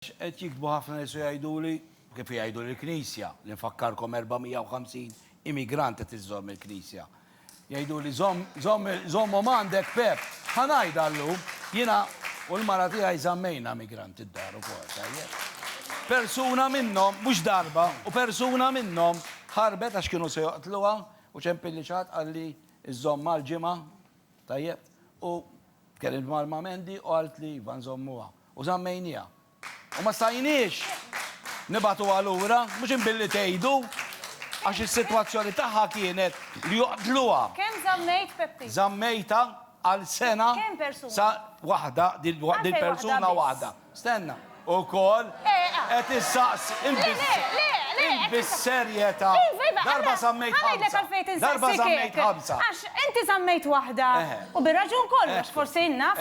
X'qed jiktbu ħafna nies u jgħiduli, u kif jgħidu lill-Knisja, li nfakkarkom 450 immigrant qed iżżomm il-Knisja. Jgħiduli żomm żomm żommhom għandek Pep. Ħa ngħidha llum, jiena u l-mara tiegħi żammejna migrant id-dar ukoll, tajjeb. Persuna minnhom, mhux darba, u persuna minnhom ħarbet għax kienu se joqtluha u ċempilli xi ħadd qal li żżomm għal ġimgħa, tajjeb, u tkellimt mal-Mam Andy u qaltli iva nżommuha. U żammejniha. U ma stajniex nibagħtuha lura, mhux imbilli tgħidu, għax is-sitwazzjoni tagħha kienet li joqtluha. Kemm żammejt Peppi? Żammejtha għal sena. Kemm persuni? Sa waħda, dil-persuna waħda. Stenna. Ukoll qed issaqsi. Le, le, le, le! Int bis-serjetà. Iva, iva, ħa ngħidlek għalfejn qed insaqsik hekk. Darba żammejt ħamsa. Għax inti żammejt waħda. U bir-raġun kollox, forsi naf.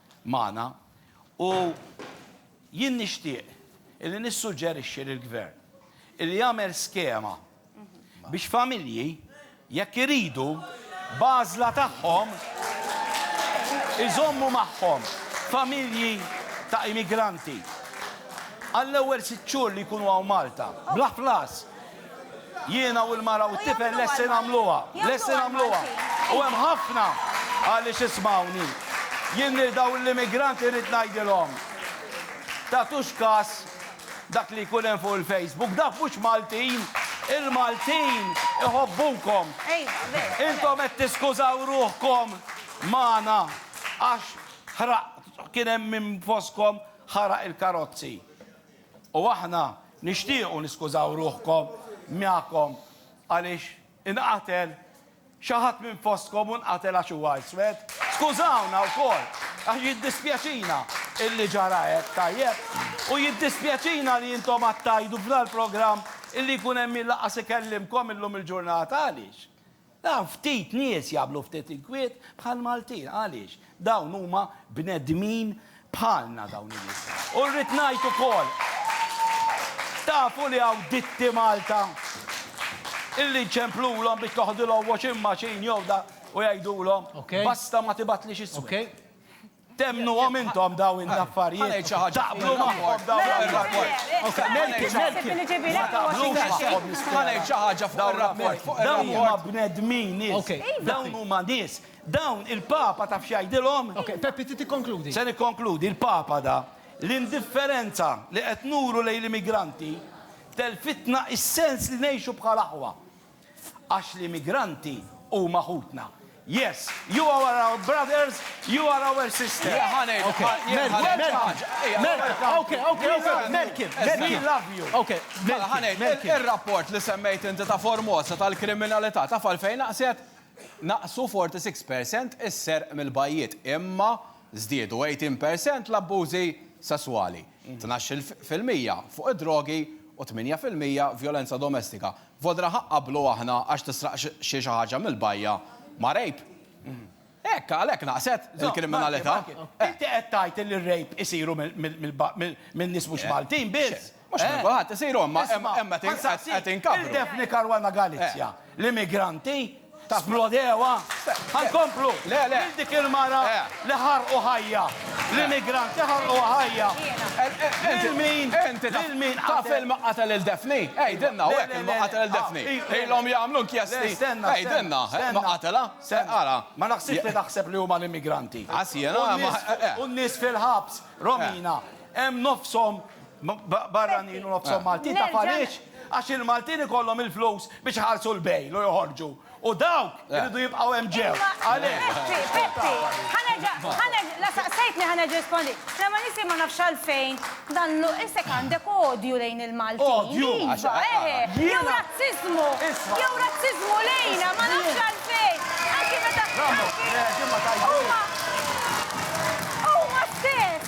magħna u jien nixtieq illi nissuġġerixxi lill-Gvern illi jagħmel skema biex familji jekk iridu b'għażla tagħhom iżommu magħhom familji ta' immigranti għall-ewwel sitt xhur li jkunu hawn Malta bla ħlas Jiena u l-mara u t-tifel lesti nagħmluha. Lesti nagħmluha. U hemm ħafna għaliex ismgħuni. Jien lil dawn l-immigranti rrid ngħidilhom, tagħtux kas dak li jkun hemm fuq il-Facebook. Dawk mhux Maltin. Il-Maltin iħobbukom. Intom qed tiskużaw ruħkom magħna għax ħraqt, kien hemm min fostkom ħaraq il-karozzi. U aħna nixtiequ niskużaw ruħkom magħkom għaliex inqatel xi ħadd minn fostkom u nqatel għax huwa iswed. Skużawna wkoll għax jiddispjaċina illi ġara hekk, tajjeb? U jiddispjaċina li intom għad tgħidu f'dal-programm illi jkun hemm min lanqas ikellimkom illum il-ġurnata. Għaliex? Naf ftit nies jagħmlu ftit inkwiet bħall-Maltin. Għaliex? Dawn huma bnedmin bħalna dawn in-nies. U rrid ngħid ukoll, tafu li hawn ditti Malta illi nċemplulhom biex toħdilhom washing machine jew dak u jgħidulhom, basta ma tibgħatlix iswed. Temmnuhom intom dawn l-affarijiet? Taqblu magħhom dawn l-affarijiet? Ma taqblux magħhom nispera. Dawn huma bnedmin, nies. Dawn huma nies. Dawn il-Papa taf x'jgħidilhom? Se nikkonkludi, il-Papa da, L-indifferenza li qed nuru lejn l-immigranti telfitna s-sens li ngħixu bħal aħwa. Għax l-immigranti huma ħutna. Yes, you are our brothers, you are our sisters. Le ħa ngħidu, ħa jien ħa ngħid xi ħaġa. Ejja, Merkel, ok, ok, ok, Merkel, Merkel. We love you. Ok, Mela ħa Merkel, ngħid, Merkel. il- ir-rapport li semmejt inti ta' Formosa tal-kriminalità taf għalfejn naqset? Naqsu 46 per cent is-serq mill-bajjiet, imma żdiedu 18 per cent l-abbużi sesswali, tnax-il fil-mija fuq id-drogi u 8 fil-mija vjolenza domestika. Vodra Ħa qablu aħna għax tisraq xi xi ħaġa mill-bajja ma' rape? Hekk, għalhekk naqset il-kriminalità. Marky, Marky, inti qed tgħid li r-rape isiru minn nies mhux Maltin biss? Mhux minn kulħadd isiru, imma hemm qed inkabru. Isma', ħansaqsik, il-Daphne Caruana Galizia, l-immigranti, Splodew, ha nkomplu lil dik il-mara li ħarqu ħajja, l-immigranti ħarquha ħajja, lil min, lil min qatel. Taf ilma qatel lil Daphne? Għidilna hawn hekk ilma qatel lil Daphne. Ilhom jagħmlu inkjesti. Għidilna, ma qatilha? Ara. Ma naħsibx li taħseb li huma l-immigranti. Għas jiena, ma. U n-nies fil-ħabs, Romina, hemm nofshom barranin u nofshom Maltin taf għaliex? Għax il-Maltin ikollhom il-flus biex iħallsu l-bail u joħorġu. U dawk iridu jibqgħu hemm ġew. Għalhekk. Peppi, Peppi, ħa nerġa', ħa nerġa', la saqsejtni ħa nerġa' nirrispondi. La ma nifhem ma nafx għalfejn dan l-, isek għandek odju lejn il-Maltin. Odju? Iva, eħe. Jew razziżmu. Isma'. Jew razziżmu lejna, ma nafx għalfejn. Anki meta. Huma. Huma stess.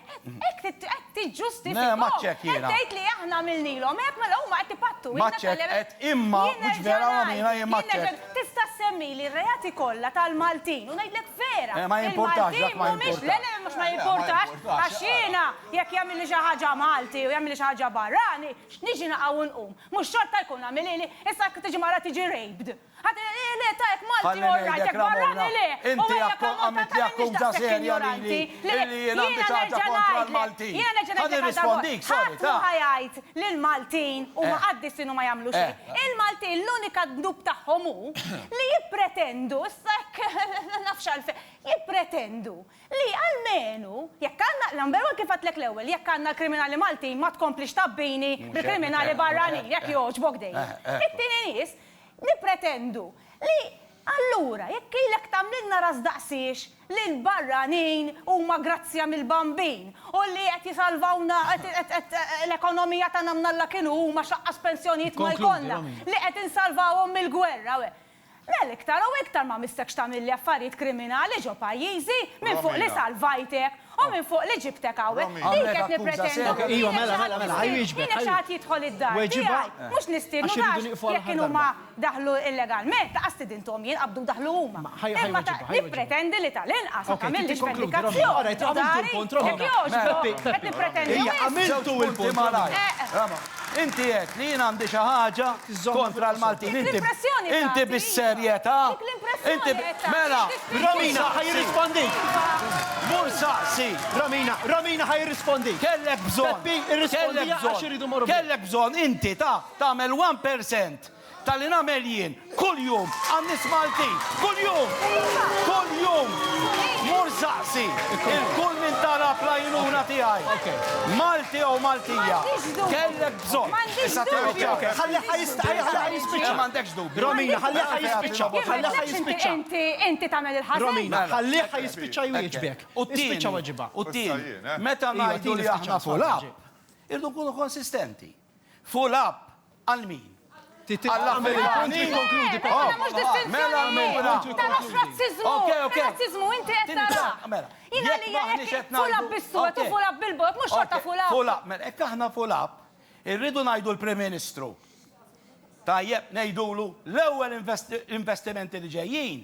Hekk qed tiġġustifika. Le, ma ċek jiena. Qed tgħid li aħna għamilnilhom hekk mela huma qed ipattuna. Ma ċek qed imma mhux vera għamilha jien ma ċek. Tista' ssemmili r-reati kollha tal-Maltin u ngħidlek vera. Eh, ma jimpurtax dak ma jimpurtax. Le, le, mhux ma jimpurtax. Għax jiena jekk jagħmilli xi ħaġa Malti u jagħmilli xi ħaġa barrani, x'niġi naqa' u nqum? Mhux xorta jkun għamilili? Issa jekk tiġi mara tiġi raped. Ħadd le ta jekk Malti all right jekk barrani le! U ejja jekk Malti ta m'iniex daqshekk injoranti! Le, jiena nerġa' ngħidlek, jiena nerġa' ngħidlek għal darbohra, ħadd mhu ħa jgħid li l-Maltin huma qaddisin u ma jagħmlu xejn. Il-Maltin l-unika dnub tagħhom hu li jippretendu, issa hekk ma nafx għalfejn, jippretendu li almenu jekk għandna, number one kif għedtlek l-ewwel, jekk għandna l-kriminali Maltin ma tkomplix tgħabbini bil-kriminali barranin, jekk jogħġbok dejjem. It-tieni nies, Nippretendu li, allura, jekk ilek tagħmlilna ras daqsiex li l-barranin huma grazzja mill-Bambin u li qed jisalvawna l-ekonomija tagħna mnalla kienu huma x'aqqas pensjonijiet ma jkollna li qed insalvawhom mill-gwerra u hekk, mela iktar u iktar ma missekx tagħmilli affarijiet kriminali ġo pajjiżi minfuq li salvajtek Hu minn fuq li ġibtek hawnhekk? Dik qed nippretendu minn minnek xi ħadd jistidnu, minnek xi ħadd jidħol id-dar tiegħi. Mhux nistiednu għax jekk kienu ma daħlu illegalment, laqas stidinthom jien, qabdu daħlu huma. Imma nippretendi li tal-inqas ma tagħmillix vendikazzjoni ġo dari, jekk jogħġbok, qed nippretendu wisq. Żewġ punti malajr. Inti għedt li jien għandi xi ħaġa kontra l-Maltin. Dik l-impressjoni tagħti. Inti bis-serjetà. Dik l-impressjoni qed tagħti. Mela, Romina ħa jirrispondik. Mur saqsi, Romina, Romina ħa jirrispondik. Kellek bżonn. Peppi, irrispondi għax iridu morru. Kellek bżonn inti ta' tagħmel 1% Ta' li nagħmel jien, kuljum, għan-nies Maltin, kuljum! Kuljum! Mur saqsi 'l kull min talab l-għajnuna tiegħi. Malti jew Maltija, kellek bżonn. Issa tieħu ċ-ċaħda. Ħalli ħa jispiċċa. M'għandekx dubju. Romina, ħalli ħa jispiċċa. Ħalli ħa jispiċċa. Inti, inti tagħmel il-ħażen. Romina, ħalli ħa jispiċċa jwieġbek. U t-tieni. Ispiċċa weġibha. U t-tieni. Meta ngħidu li aħna pulap, irridu nkunu konsistenti. Fuq l-app, għal min? Għall-Afrikani? Jekk aħna fuq l-app, irridu ngħidu l-Prim Ministru, tajjeb, ngħidulu l-ewwel investimenti li ġejjin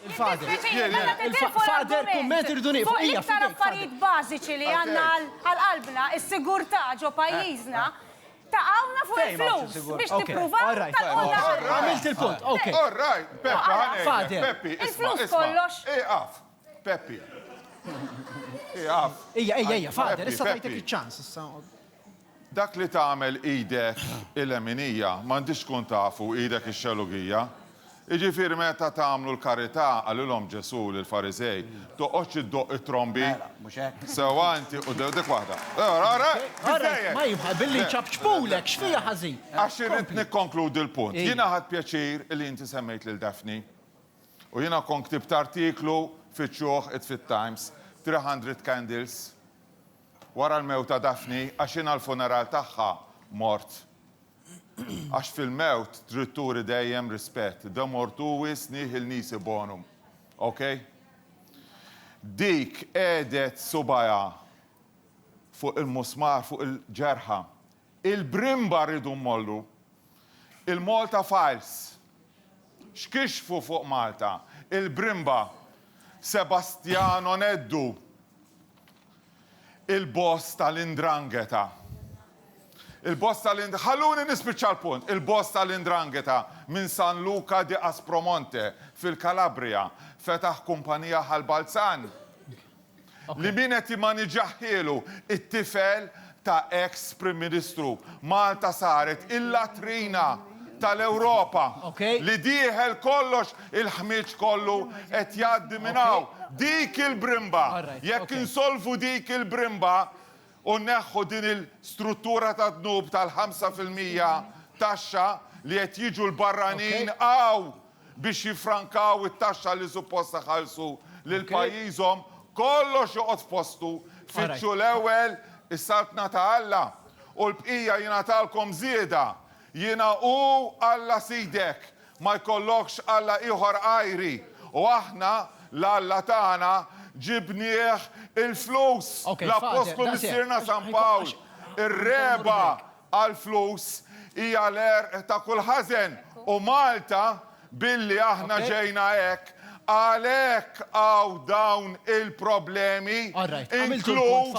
Fader, kumment irridu nieqfu. Fuq iktar affarijiet bażiċi li għandna għal qalbna, is-sigurtà ġo pajjiżna, taqgħuna fuq il-flus biex tippruvaw taqgħuna. Għamilt il-punt, ok. Fader. Il-flus kollox. Ieqaf, Peppi. Ieqaf. Ejja, ejja, ejja, Fader, issa tajtek iċ-ċans. Dak li tagħmel idek il-leminija m'għandhiex tkun tafu idek ix-xelugija. Jiġifieri meta tagħmlu l-karità, qalilhom Ġesù lill-Fariżej, toqgħodx iddoqq it-trombi. Sewwa inti u dik waħda. Għax irrid nikkonkludi l-punt. Jiena ħadt pjaċir li inti semmejt lil Daphne. U jiena kont ktibt artiklu fiċ-ċuħ it-fit-Times, 300 candles. Wara l-mewt ta' Daphne, għax jien għall-funeral tagħha mort. Għax fil-mewt trid turi dejjem rispett, de mortuis nihil nisi bonum. Ok? Dik qegħdet subgħajha fuq il-musmar fuq il-ġerħa, Il-brimba rridu mmollu. Il-Malta Files x'kixfu fuq Malta? Il-brimba Sebastiano Neddu, il-boss tal-'Indrangheta. Il-boss tal-'Ind-, ħalluni nispiċċa l-punt, il-boss tal-'Indrangheta minn San Luca di Aspromonte, fil-Calabria, fetaħ kumpanija Hal Balzan. li min qed jimmaniġaħhielu it-tifel ta' eks Prim Ministru. Malta saret il-latrina tal-Ewropa. Li dieħel kollox il-ħmieġ kollu qed jgħaddi minn hawn. Dik il-brimba! Jekk insolvu dik il-brimba, u nneħħu din il-struttura tad-dnub tal-ħamsa fil-mija taxxa li qed jiġu l-barranin hawn biex jiffrankaw it-taxxa li suppost iħallsu lil pajjiżhom, kollox joqgħod f'postu, fittxu l-ewwel is-saltna ta' Alla u l-bqija jingħatalkom żieda. Jiena hu Alla sidek, ma jkollokx alla ieħor għajri, u aħna, l-Alla tagħna, ġibnieh il-flus. L-appostlu missierna San Pawl, Ir-regħba għall-flus hija l-għerq ta' kull ħażen, u Malta Billi aħna ġejna hekk, għalhekk hawn dawn il-problemi, inkluż,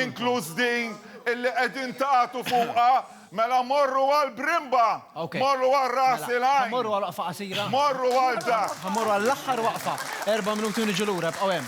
inkluż din illi qegħdin tagħtu fuqha, mela morru għal Brimba, morru għal Ras il-Għajn. Mela, ħa mmorru għal waqfa qasira. Morru għal dak. Ħa mmorru għall-aħħar waqfa. Erba' minuti u niġu lura, ibqgħu hemm.